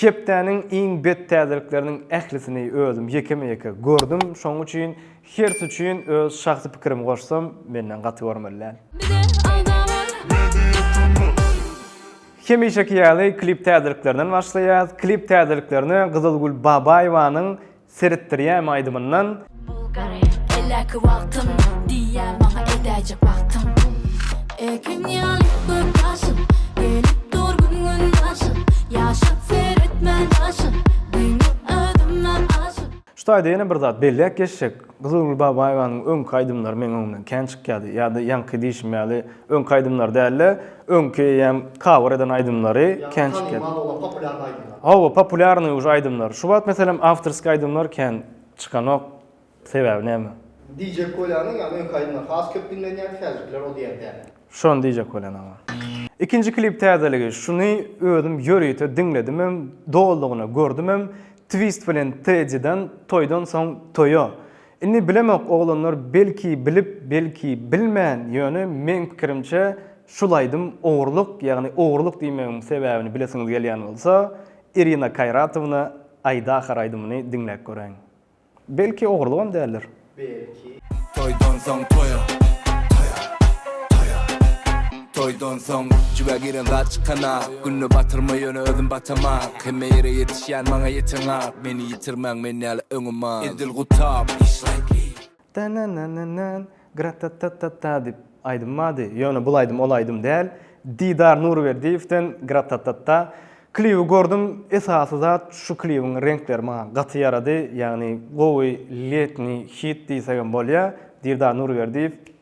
Hepdäniň iň bet täzelikleriniň ählisini özüm ýekeme-ýeke gördüm, şonuň üçin hers üçin öz şahsy pikirimi goşsam, menden gaty görmeli däl. Hemişeki ýaly klip täzeliklerden başlaýas. Klip täzeliklerine Gyzylgül Babaýewanyň Seretdirýämi aýdymyndan. Bulgari Elläki wagtym Diýýä maňa edäýjek wagtym Ekin ýaly gözýaşym Gelip dur gün gün daşym Ýaşap seretmän daşym Diňe özümden aşyp. Şu taýda ýene bir zat belläp geçsek, Gyzylgül Babaýewanyň öňki aýdymlary meň öňümden kän çykýardy, ýa-da ýaňky diýşim ýaly Öňki aýdymlar dälde öňki eýýäm cover eden aýdymlary kän çykyp. Hawa populýarnyý uje aýdymlar. Şu wagt meselem awtorskiý aýdymlar kän çykanok. Sebäbi näme? DJ Kolyanyň ýa öňki aýdymlar has köp diňlenýärdi häzirkiler o diýen däl. Şony DJ Kolýan aga. Ikinji klip täzeligi şuny özüm ýörite diňledimem doldygyna gördümem twist bilen Teddy'den toýdan soň toýa Indi bilemok oglanlar belki bilip belki bilmän ýöne meň pikirimçe şul aýdym ogurlyk ýagny ogurlyk diýmegiň sebäbini bilesiňiz gelýän bolsa Irina Kaýratowna aýda ahar aýdymyny diňläp göräýiň. Belki ogurlygam däldir. Belki. Toýdan soň toýa. Toýa. Toýa. Toýdan soň jübä giren zat çykan ak Günde batyrma ýöne özüm batamak Hemme ýere ýetişýän maňa ýeten ak Meni ýitirmäň men ýaly öňüman Edil gutap Tanananan Gratatatata diýip aýdym bardy, ýöne bul aýdym ol aýdym däl. Didar Nurberdiýewden Gratatatata. Klibi gördüm, esasy zat şu klibiň reňkleri maňa gaty ýarady, ýagny gowy letniý hit diýsegem bolýar. Didar Nurberdiýew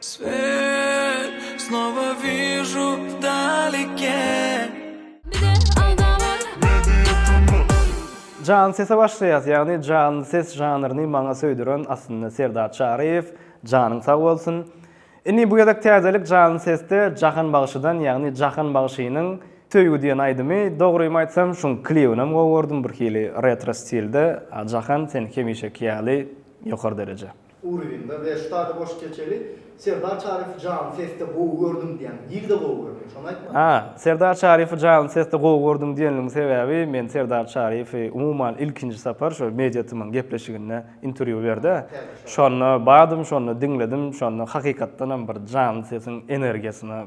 Svet snova viju dalike. Janly sese başlaýas, ýagny janly ses žanryny maňa söýdüren aslynda Serdar Çaryýew, janyň sag bolsun. Indi bu gezek täzelik janly sesde Jahan bagşydan, ýagny Jahan bagşynyň Söýgi diýen aýdymy, dogrymy aýtsam şuň klibinem gowy gördüm, birhili retro stilde, a Jahan sen hemişeki ýaly ýokary dereje. Urwinda we ştada boş keçeli Serdar Çaryfy janly sesde gowy gördüm diýen dilde gowy görmedi şony aýtmaly. A, Serdar Çaryfy janly sesde gowy gördüm diýenligiň sebäbi men Serdar Çaryfy umuman ilkinji sapar şu Media TM-yň gepleşiginde interwýu berdi. Şonda bardym şonda diňledim şonda hakykatdanam bir janly sesiň energiýasyna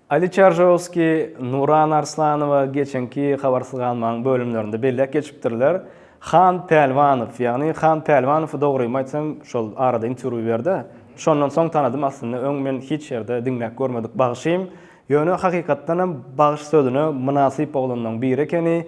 Ali Çaržowskiý, Nuran Arslanowa geçenki Habarsyz galmaň bölümlerinde belläp geçipdirler. Han Pälwanow, ýagny Han Pälwanow dogrymy aýtsam şol arada interwýu berdi. Şondan soň tanadym aslynda öň men hiç ýerde diňläp görmedik bagşym. Ýöne hakykatdanam bagş sözüne mynasyp oglanlaň biri ekeni.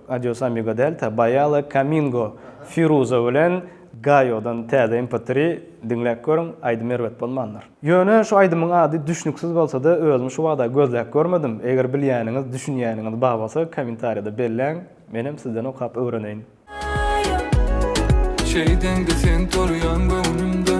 Adios Amigo Delta, Bayale, Kamingo, Firuza bilen Gayodan Täze MP3-ri diňläp görüň, aýdym erbet bolmandyr. Ýöne şu aýdymyň ady düşnüksiz bolsada özüm şu wagta gözläp görmedim, eger bilýäniňiz, düşünýäniňiz bar bolsa kommentariýada belläň, menem sizden okap öwreneýin. Şeýdeňde sen tolýaň göwnümde.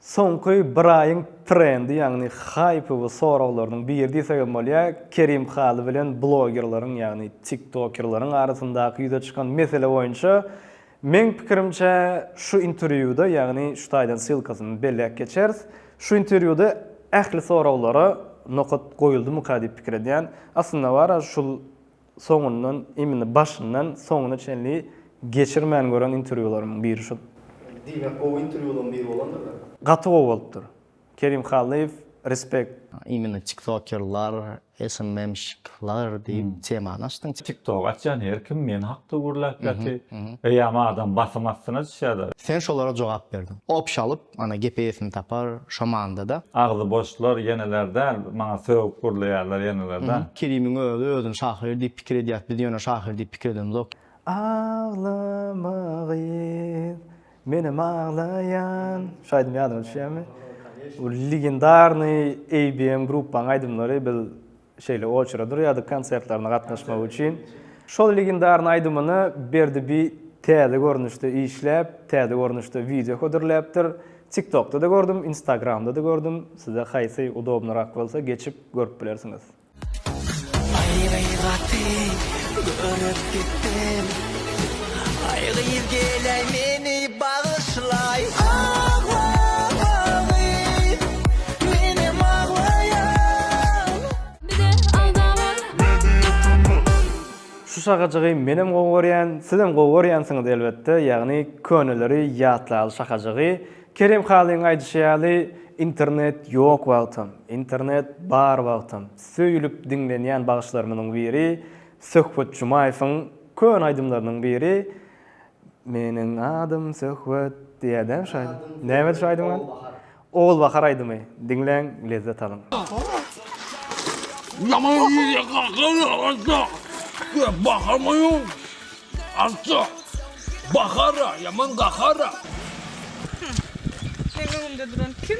Soňky bir aýyň trendi, ýagny haýpy we soraglarynyň biri diýsek hem bolýar, Kerim Haly bilen blogerleriň, ýagny tiktokerleriň arasyndaky ýüze çykan mesele boýunça, meň pikirimçe, şu interwýuda, ýagny şu taýdan ssylkasyny belläp geçeris, şu interwýuda ähli soraglara nokat goýuldymyka diýip pikir edýän. Aslynda bar-a, şul soňundan imini başyndan soňuna çenli geçirmän gören interwýularymyň biri şu. Diýmek gowy interwýulaň biri bolandyr da. Gaty gowy bolupdyr. Kerim Hallyýew respect. Imini tiktokerlar, SMMşiklar diýip temany açdyň. Tiktok açýan her kim men hakda gürläp ýaty. Eýýäm adam basym astyna düşýä da. Sen şolara jogap berdiň. Opşalyp Ana gepe esini tapar şo manda-da. Agzy boşlar ýeneler däl maňa sögüp gürleýärler ýenelerde. Kerimiň özi özüni şahyr diýip pikir edýät biz ýöne şahyr diýip pikir edemzok. Aglama gyz, menem aglaýan. Şu aýdym ýadyňa düşýärmi? Bu legendarnyý ABM gruppaň aýdymlary biz Şeýle oçere durýardyk konsertlerine gatnaşmak üçin. Şol legendarnyň aýdymyny Berdi bi täze görnüşde işläp, täze görnüşde wideo hödürläpdir. Tiktokda-da gördüm, Instagramda-da gördüm. Size haýsy udobnyrak bolsa geçip görüp bilersiňiz. Aýry gaty görüp gitdim. Aý gyz geleý meni bagyşlaý. Agla gyz menem aglaýan. Bize alda bar. Media Turnus. Şu şakajygy menem gowy görýän, sizem gowy görýänsiňiz elbetde, ýagny köneleri ýatlaly şakajygy, Kerim Halyň aýdyşy ýaly internet ýok wagtam, internet bar wagtam söýülip diňlenýän bagyşlarymyzyň biri Söhbet Jumaýewiň, Köne aýdymlarynyň biri Meniň adym Söhbet diýýärdi şo aýdym. Nämedi şo aýdymyň ady? Ogul bahar aýdymy. Diňläň, lezzet alyň. Ýaman ýigide kakara atda, Gep baharmaýyn atda. Bahara, ýaman gahara. Meň öňümde duran kim?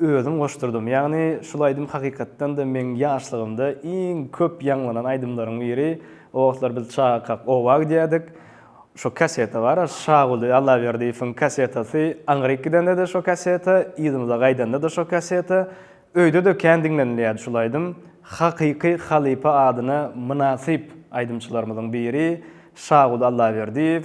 Özüm goşdurdym. Ýagny şul aýdym hakykatdan-da meň ýaşlygymda iň köp ýaňlanan aýdymlaryň biri. O wagtlar biz çagakak oba gidýärdik. Şo kaseta bar-a, Şaguly Allaberdiýewiň kasetasy. Aňryk gidende-de şo kaseta, yzymyza gaýdanda-da şo kaseta. Öýde-de kän diňlenilýärdi şul aýdym. Hakyky halypa adyna mynasyp aýdymçylarymyzyň biri Şaguly Allaberdiýew.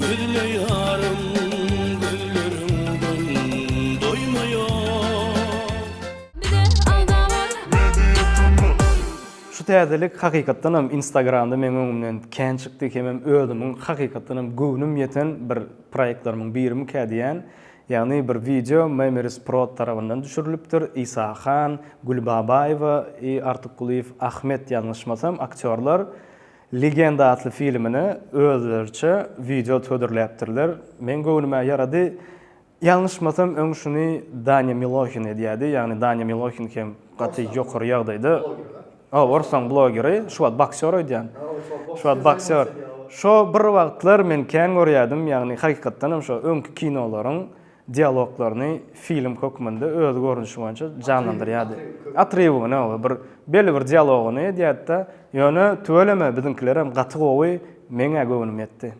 Gözleýärin gözleriňden doýmaýan. Bize alda bar. Media Turnus. Şu täzelik hakykatdanam instagramda meň öňümden kän çykdy hemem özümiň hakykatdanam göwnüm ýeten bir proýektlarymyň birimikä diýýän. Ýagny bir wideo Memories Prod tarabyndan düşürilipdir. Isa Han, Gül Babaýewa, Artikgulyýew Ahmet ýalňyşmasam aktýorlar. Legenda atly filmine özleriçe wideot hödürläpdirler. Meň göwnüme ýarady. Ýalňyşmasam öň şuny Danya Milohin edýädi. Ýagny Danya Milohin hem gaty ýokary ýagdaýda. Hoo orsaň blogeri, şu wagt boksýor öýdýän. Şu wagt boksýor. Şo bir wagtlar men kän görýädim, ýagny hakykatdanam şo öňki kinolaryň dialoglaryny film hökmünde öz görnüşi boýunça janlandyrýardy. Atrybygyny, oba bir belli bir dialogyny edýärdi-de, ýöne tüweleme biziňkilerem gaty gowy, meň-ä göwnüm ýetdi.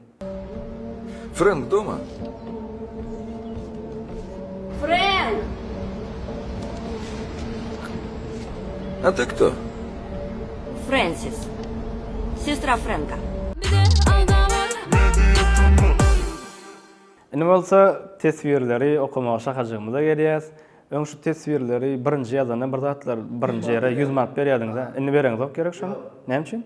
Frenk doma? Frenk! A ty kto? Frensis. Sestra Frenka. Indi bolsa teswirleri okamaga şahajygymyza gelýäs. Öň şu teswirleri birinji ýazanda bir zatlar birinji ýere ýüz manat berýärdiňiz-ä. Indi bereňizok gerek şony. Näme üçin?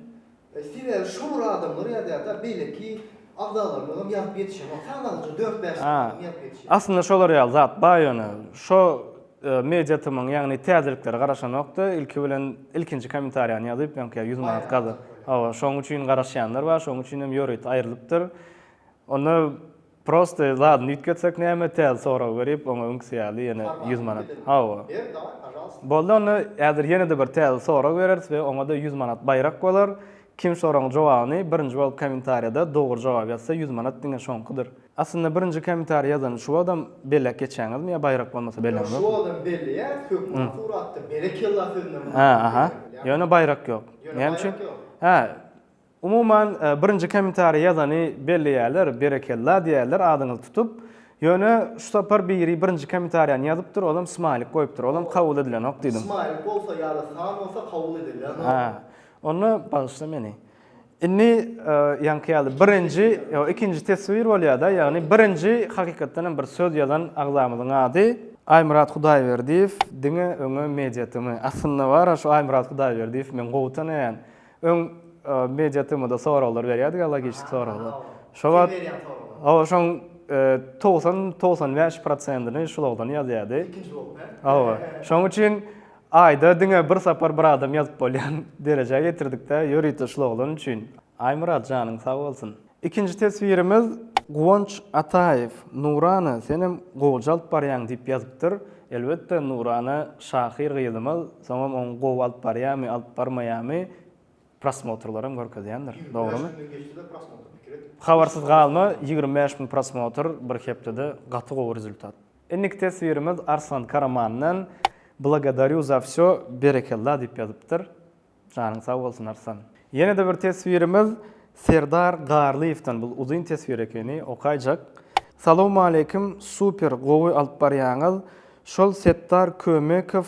Sebäbi şo bir adamlar ýazýar-da, beýleki agzalarymyz hem ýazyp ýetişenok. Sanalyja dört-bäş adam ýazyp ýetişýär. Aslynda şolar ýaly zat bar ýöne. Şo MediaTm-yň ýagny täzeliklere garaşanok-da, ilki bilen ilkinji kommentariýany ýazyp, öňki ýüz manat gaza. Hawa, şoň üçin garaşýanlar bar, şoň üçin hem ýörite aýrylypdyr. Onda prosta zadyny üýtgetsek näme, täze sorag berip, oňa öňküsi ýaly ýene ýüz manat. Hawa. Boldy onda, häzir ýene-de bir täze sorag bereris we oňa-da ýüz manat baýrak bolar. Kim soragyň jogabyny birinji bolup kommentariýada dogry jogap ýazsa ýüz manat diňe şoňkudyr. Aslynda birinji kommentariý ýazany şu wagtam belläp geçýäňizmi ýa baýrak bolmasa belläňiz? Ýok şu wagtam belleýäris hökman suratda berekella sözüne mundan beýläk. Ýöne baýrak ýok. Näme üçin? Hä. Umuman, birinji kommentariý ýazany belleýärler, berekella diýýärler adyňyzy tutup. Ýöne şu sapar biri birinji kommentariýany ýazypdyr, olam smaýlik goýupdyr, olam kabul edilenok diýdim. Smaýlik bolsa ýa-da san bolsa kabul edilýänok. Hä. Onda bagyşla meni. Indi ýaňky ýaly birinji, ýok, ikinji teswir bolýar-da, ýagny birinji hakykatdan hem bir söz ýazan agzamyzyň ady. Aýmyrat Hudaýberdiýew diňe öňe media tm. Aslynda bar-a şu Aýmyrat Hudaýberdiýew, men gowy tanaýan. Öň media TM-da soraglar berýärdik, logiki soraglar. Şo wagt Hawa, şoň togsan, togsan bäş prosentini Şulogdan ýazýardy. Ikinji bolup, hä? Hawa. Şoň üçin aýda diňe bir sapar bir adam ýazyp bolýan derejä getirdik-de, ýörite Şuloglan üçin. Aýmyrat, janyň sag bolsun. Ikinji teswirimiz Guwanç Ataýew, Nurana senem gowy calt barýaň diýip ýazypdyr. Elbetde Nurana şahyr gyzymyz, soňam oň gowy alyp barýamy, alyp barmaýamy prosmotrlaram görkezýändir. Dogrymy? Ýigrimi bäş müňden geçsede prosmotr pikir et. Habarsyz galma, ýigrimi bäş müň prosmotr bir hepdede gaty gowy rezultat. Indiki teswirimiz Arslan Karamandan, Blagodarýu za wsýo, berekella diýip ýazypdyr. Janyň sag bolsun Arslan. Ýene-de bir teswirimiz Serdar Garlyýewden bul uzyn teswir ekeni okaýjak. Salowmaleýkim super gowy alyp barýaňyz şol Setdar Kömekow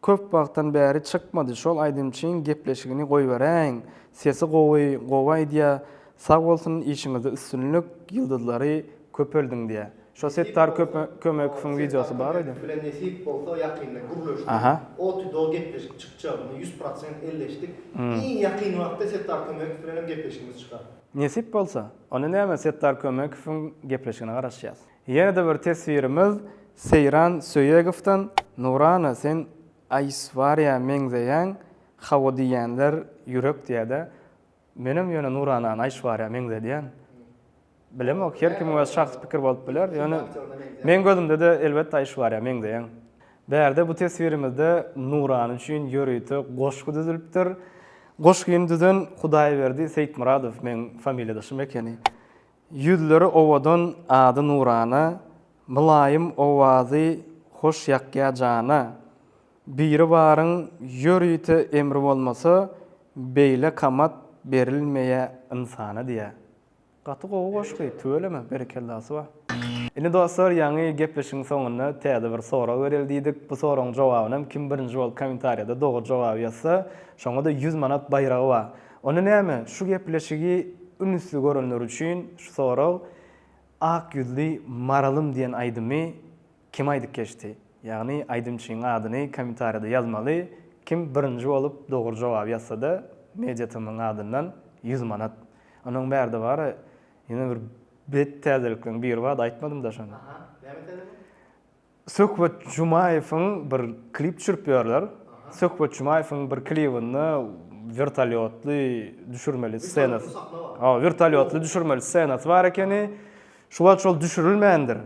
köp wagtdan bäri çykmady şol aýdymçyň gepleşigini goýberäýiň sesi gowy gowy aýdýa sag bolsun işiňizde üstünlik ýyldyzlary köpeldiň diýä. Şo Settar Kömekowyň wideosy bar idi. Bilen nesip bolsa ýakynda gürleşdik. Oty doly gepleşik çykjagyny ýüz prosent elleşdik. Iň ýakyn wagtda Settar Kömekow bilen hem gepleşigimiz çykar. Nesip bolsa, onda näme Settar Kömekowyň gepleşigine garaşýas. Ýene-de bir teswirimiz Seýran Söýegowdan, Nurana sen Aýswariýa meňzeýäň, hawa diýýänler ýürek diýädä. Menem ýöne Nuranany Aýşwarýa meňzedýän. Bilemok, her kimiň öz şahsy pikir bolup biler, ýöne meň gözümde-de elbetde Aýşwarýa meňzeýäň. Bärde bu teswirimizde Nurany üçin ýörite goşgy düzülipdir. Goşgyny düzen Hudaýberdi Seýitmyradow, meň familiýadaşym ekeni. Ýüzleri owadan ady nurana, mylaýym owazy hoş ýakýa jana. Biribaryň ýörite emri bolmasa beýle kamat berilmeýä ynsana diýä. Gaty gowy goşgy tüweleme berekellasy bar. Indi dostlar ýaňy gepleşigiň soňunda täze bir sorag bereli diýdik. Bu soragyň jogabynam kim birinji bolup komentariýada dogry jogaby ýazsa şoňada ýüz manat baýragy bar. Onda näme şu gepleşigi ünüsli görenler üçin şu sorag Ak ýüzli maralym diýen aýdymy Kim aýdyp geçdi? Ýagny aýdymçyň adyny kommentariýada ýazmaly, kim birinji bolup dogry jogaby ýazsada Media TM-yň adyndan ýüz manat. Onuň bärde bary ýene bir bet täzelikleň biri bardy aýtmadymda şony. Aha, näme täzelik? Söhbet Jumaýewiň bir klip düşürip ýörler. Söhbet Jumaýewiň bir klibinde wertolýotly düşürmeli ssenasy. Hawa, wertolýotly düşürmeli ssenasy bar ekeni. Şu wagt şol düşürilmändir.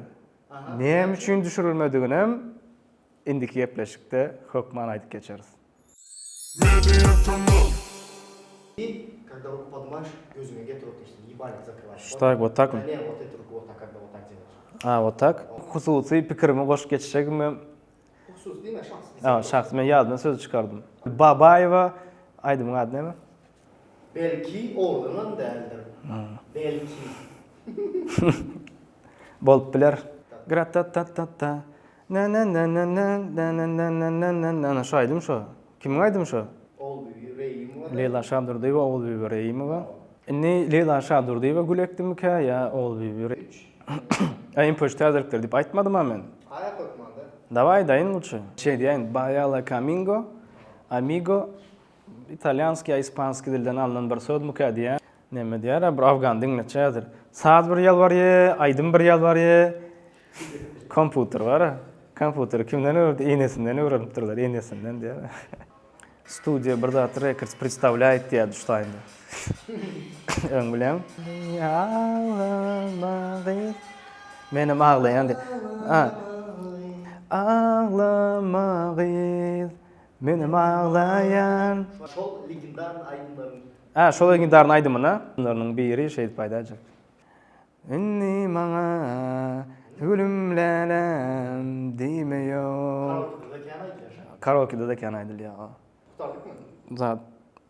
Näme üçin düşürilmediginem indiki gepleşikde hökman aýdyp geçeris. Hususy pikirimi goşup geçjegimem Şahsy diýme şahsy. Şahsy men ýadymdan sözi çykardym. Babaýewa aýdymyň ady näme? Belki oglanam däldir. Belki. Bolup biler. Gratatatatata. Nananana şu aýdym şo. Kimiň aýdymy şo? Ogulbibi Reýimowa. Leýla Şadurdyýewa, Ogulbibi Reýimowa. Indi Leýla Şadurdyýewa gül ekdimikä ýa Ogulbibi Re. Äý impoçt täzelikleri diýip aýtmadym-a men. Aýa goýupmaňda. Dawaý daýyn lutşy. Şeýdýäýin Baýala Kamingo, Amigo, Italýanski ýa ispanski dilden alnan bir sözmükä diýýän. Neme diýýär-ä bir afgan diňleçädir. Saz bir ýalbarýa, aýdym bir ýalbarýa. Komputer bar-a. Komputeri kimden öwrendi? Enesinden öwrenipdirler, enesinden diýýär. Studiýa bir zat rekords predstawlýaýt diýýärdi şu taýynda. Öň bileň. Aglama gyz. Menem aglaýan diýýär. Aglama gyz. Menem aglaýan. Şol legendarny aýdymlaryň. Hä, şol legendarny aýdymyna. Şolarynyň biri şeýdip aýdaýjak. Indi maňa gülüm läläm diýme ýok. Karaokede-de kän aýdylýar. Karaokede-de kän aýdylýar. Gutaryk men. Zat